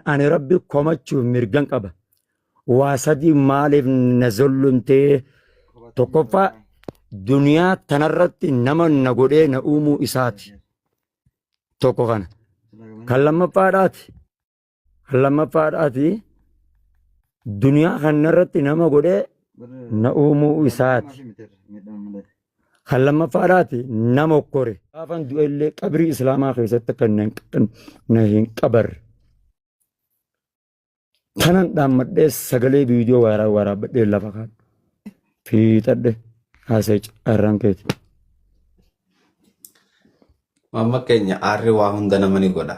Ani Rabbi komachuuf mirgan qaba. Waa sadii maaliif na zollumtee? Tokkoffaa duniyaa tanarratti nama na godhee na uumuu isaati. Tokko kana. Kan lammaffaadhaati. Kan lammaffaadhaati. Duniyaa kanarratti nama godhee na uumuu isaati. Kan lammaffaadhaati na mokkore. Gaafan du'ellee qabrii Islaamaa keessatti akka na hin qabarre. Kanan dhaammadhee sagalee viidiyoo waaraa waraabbadhee lafa kaadhe. Fiixadhe haasee carraan keeti. Mamma keenya aarri waa hunda nama ni godha.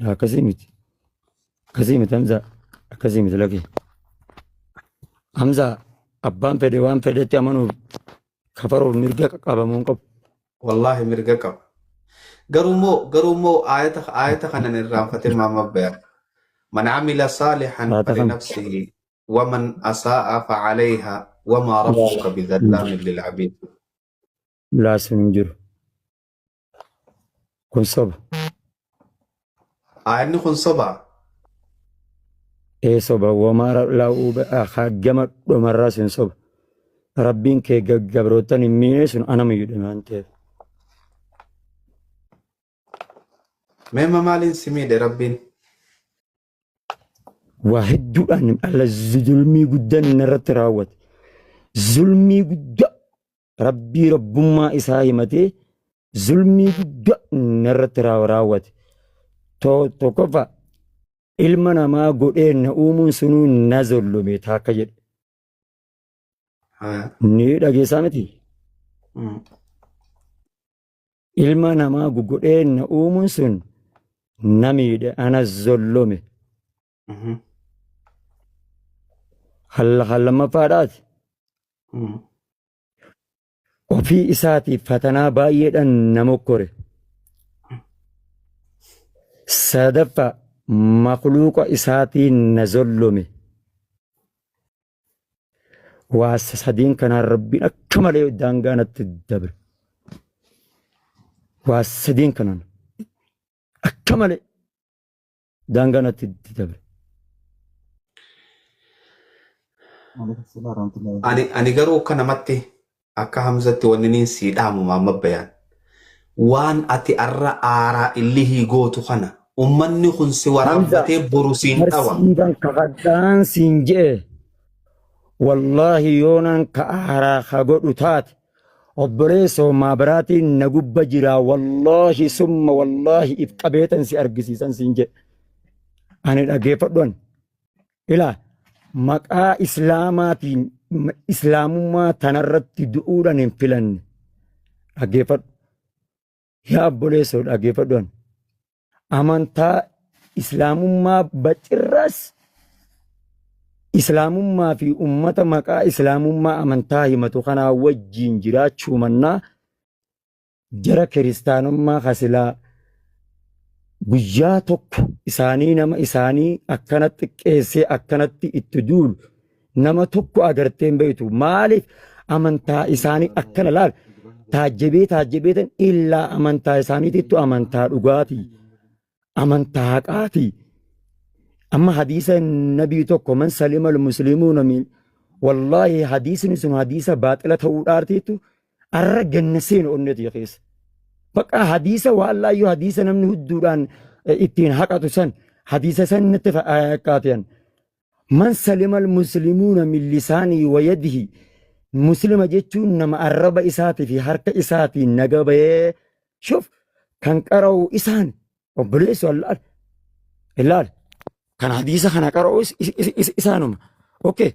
Laa akkasii miti. Akkasii miti Hamzaa. Akkasii miti lakki. Hamzaa abbaan fedhe waan fedhetti amanuuf kafaruuf mirga qabamuu hin qabu. Wallaahi mirga qaba. Garuu immoo garuu immoo aayata aayata kanan irraanfatee maama bayan. Man amila saalihan Aayata kana. falinafsihi waman asaa'a facalayha wamaa rabbuka bidhallaamin lilcabiid. Laa sun hin jiru. Kun soba. Ayanni kun sobaa. Ee soba wamaara laa'uu gama dhumarraa sun soba. Rabbiin kee gabrootan hin miine sun anama yudhe waan ta'eef. Meemma maaliin si miidhe rabbiin? Waa hedduudhaan alla zulmii guddaan inni irratti raawwate. Zulmii guddaa Rabbii rabbummaa isaa himatee zulmii guddaa narratti raaw- raawwate. To- Tokkoffaa ilma namaa godhee na uumuun sunuu na zullume taakka jedhe. Haa. Ni dhageessaa miti? Mm. Ilma namaa godhee na uumuun sun na miidhe ana zullume. Kan lammaffaadhaas ofii isaatiif fatanaa baay'eedhaan na mokkore. Sadaffaa makluuqa isaatiin na zollome. Waa sadeen kanaan rabbiin akka malee daangaa natti dabre. Waa sadeen kanaan akka malee daangaa natti itti dabre. Ani, ani garuu akka namatti akka hamzatti wanni niin sii dhaamu maamma bayaan. Waan ati arra aaraa illihii gootu kana ummanni kun si Hamza waraabbatee boru siin dhawa. barsiifan kakadhaan siin je'e wallaahi yoonaan ka aaraa ka godhu taate Obboleessoo maabaraatiin na gubba jiraa wallaahi summa wallaahi if qabeetan si argisiisan siin jedhe. Ani dhageeffadhuan. Ilaa maqaa islaamaatiin islaamummaa tanarratti du'uudhaan hin filanne. Dhageeffadhu. Yaa obboleessoo dhaggeeffadhuan amantaa islaamummaa bacirraas islaamummaa fi ummata maqaa islaamummaa amantaa himatu kanaa wajjiin jiraachuu mannaa jara kiristaanummaa kasilaa guyyaa tokko isaanii nama isaanii akkanatti xiqqeessee akkanatti itti duulu Nama tokko agartee hin beektu maaliif amantaa isaanii akkana laal taajjabee taajjabeetan illaa amantaa isaaniitittu amantaa dhugaati amantaa haqaati amma hadiisa nabii tokko man salima muslimuuna min wallaahi hadiisni sun hadiisa baaxila ta'uudhaartiittu arra ganna seenu onnetii keessa baqa hadiisa waallaayyuu hadiisa namni hudduudhaan ittiin haqatu san hadiisa san natti fakkaatiyan Man salimal muslimuuna min lisaanihi wa yadihi Muslima jechuun nama arraba isaatii fi harka isaatiin naga bahee shuf kan qara'u isaan obboleessu allaal ilaal kan hadiisa kana qara'u is- is- is- is- isaanuma okay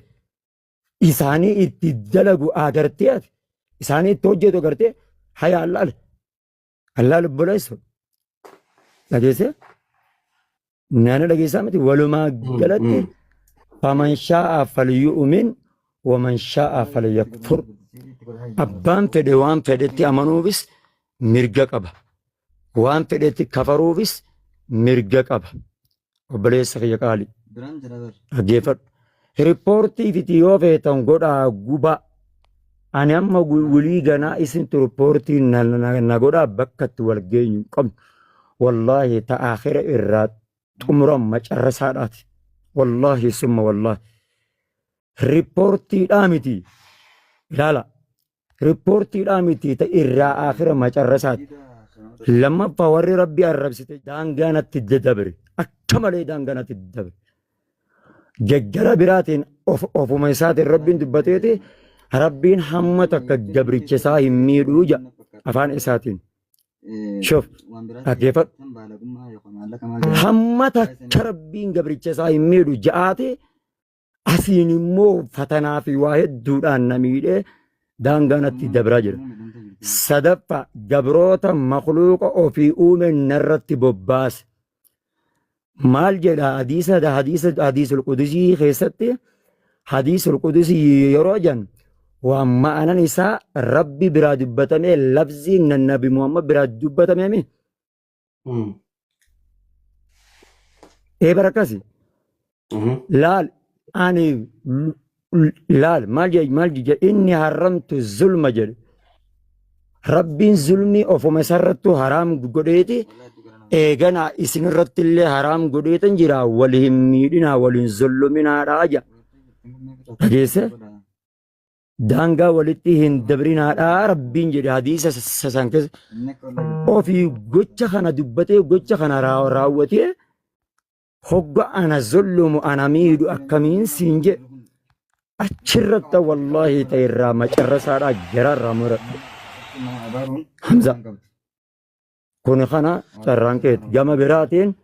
isaanii itti dalagu agartee ati isaanii itti hojjetu agartee haya allaal Allaa lubboleessa dhageessee naannoo dhageessaa miti walumaa galatti faman shaa'a falyu'umin waman shaa'a falyakfur abbaan fedhe waan fedhetti amanuufis mirga qaba waan fedhetti kafaruufis mirga qaba obboleessa kiyya qaali Biraan jira bar. dhaggeeffadhu. Riippoortii fiti yoo feetan godhaa gubaa. Ani amma gu- wulii ganaa isintu riippoortii na- na na godhaa bakka itti wal geenyu hin qabnu. Wallaahi ta akhira irraa xumuran macarrasaadhaati. Wallaahi summa wallaahi. Riippoortiidhaa miti. Ilaala. Rippoortiidhaa miti ta irraa aakhira macarrasaati. Lammaffaa warri rabbi arrabsite daangaa natti dabre akka malee daangaa natti dabre. Gaggara biraatiin of ofuma isaatiin rabbiin dubbateeti rabbiin hamma takka gabricha isaa hin miidhuu ja afaan isaatiin. Shof dhaggeeffadhu. Hamma takka rabbiin gabricha isaa hin miidhu ja'aati asiin immoo fatanaa fi waa hedduudhaan na miidhee daangaa natti dabraa jira. Sadaffa gabroota makluuqa ofii uume narratti bobbaase. Maal jedha hadiisa hadiisa hadiisul qudusii keessatti hadiisul qudusii yeroo jan waan ma'anan isaa rabbi biraa dubbatamee labziin nabi Muhammad biraa dubbatamee mi? Mm. ee bara akkasi Mhm. laal ani l- l- laal maal jedhe maal jedhe inni haramtu zulma jedhe rabbiin zulmii ofuma isarrattu haraam godheeti eeganaa isinirratti illee haraam godheetan jira wal hin miidhinaa wal hin zulluminaadhaa jedha dhageesse daangaa walitti hin dabrinaadhaa rabbiin jedhe hadiisa sasan keessa ofii gocha kana dubbatee gocha kana raa- raawwatee hogga ana zollumu ana miidhu akkamiin siin jedhe achirratti wallaahi ta'e irraa macarrasaadhaa jara irraa muradhe hamza Kuni kana carraan keeti. Gama biraatiin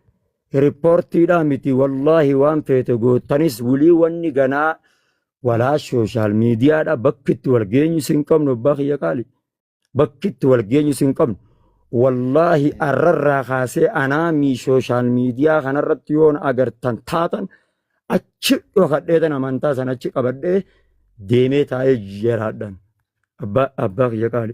riippoortiidhaa miti wallaahi waan feete gootanis wulii wanni ganaa walaa sooshaal miidiyaadha bakki itti wal geenyu sin qabnu abbaa kiyya qaali. Bakki itti wal geenyu sin qabnu. Wallaahi arrarraa kaasee anaa mii sooshaal miidiyaa kanarratti yoon agartan taatan achi dhokadheetan amantaa sana achi qabadhee deemee taa'ee jeraadhan. Abbaa abbaa kiyya qaali.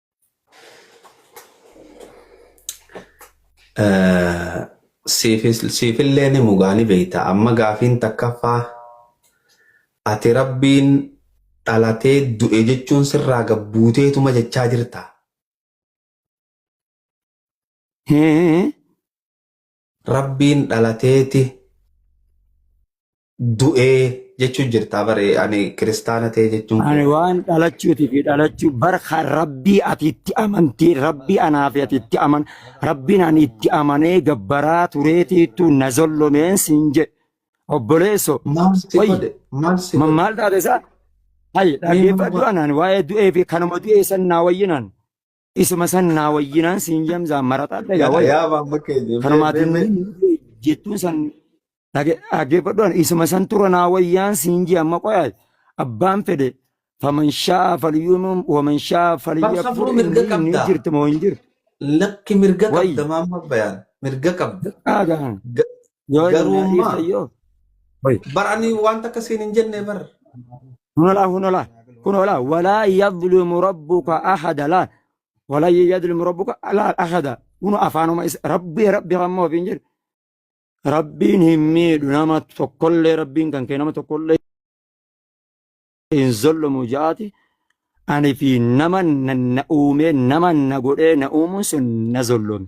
Siifillee ni mugaa ni beekta. Amma gaafiin takkaffaa ati rabbiin dhalatee du'e jechuun sirraa gabbuuteetuma jechaa jirta. Rabbiin dhalateeti du'ee jechuun jirtaa bare ani kiristaana ta'e jechuun Ani koo. waan dhalachuutii fi dhalachuu bara kan rabbii ati itti amantee rabbii anaa fi ati itti aman rabbiin ani itti amanee gabbaraa tureetiitu na zollomeen siin jedhe obboleesso Maal si wayyi godhe? Maal si ma- godhe? maal taate isaa hayyi Mee nama dhaggeeffadhu anaan waa'ee du'ee fi kanuma du'ee san naa wayyinaan Isuma san naa wayyinaan siin jamzaa marataa dhagaa Yaa wayya. yaa maamma keenya. Kanumaatiin mee- mee- mee- jettuun san dhage- dhaggeeffadhuan isuma san tura naa wayyaan siin jee amma qoyaa abbaan fedhe faman shaa falyuumum waman shaa Bar falyakfur safruu inni mirga inni qabda. jirti moo hin jirti Lakki mirga Wayyi. qabda maamma bayaan. Mirga qabda. dhaagaan Ga- Yoo hin Garuu nyaatiif ammaa- sayyoo. Hoy. bar ani wanta akka siin hin jenne bar Hunalaa hunalaa hunalaa walaa yadlimu rabbuka ahada laa walaa yadlimu rabbuka laa ahada kun afaanuma isa rabbii rabbi hamma ofiin jedhu rabbiin hin miidhu nama tokkollee rabbiin kan kee nama tokkollee hin zollomu jaati ani fi nama na na uumee nama na godhee na uumuun sun na zollome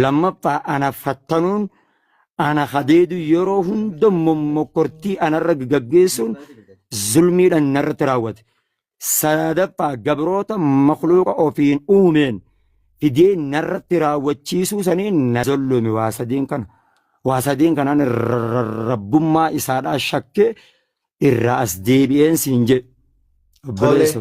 Lammaffaa ana fattanuun ana hadeedu yeroo hunda mommokkortii anarra gaggeessuun zulmiidhaan narratti raawwate. Sadaffaa gabroota makluuqa ofiin uumeen fidee narratti raawwachiisuu saniin na zollume waa sadeen kana. Waa sadeen kanaan rabbummaa isaadhaa shakkee irraa as deebi'een siin jedhe. Obboleessa.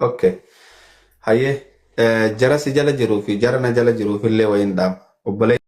Okay. Hayyee eh, jara si jala jiruu fi jara na jala jiruuf illee wayiin dhaama. Obboleessa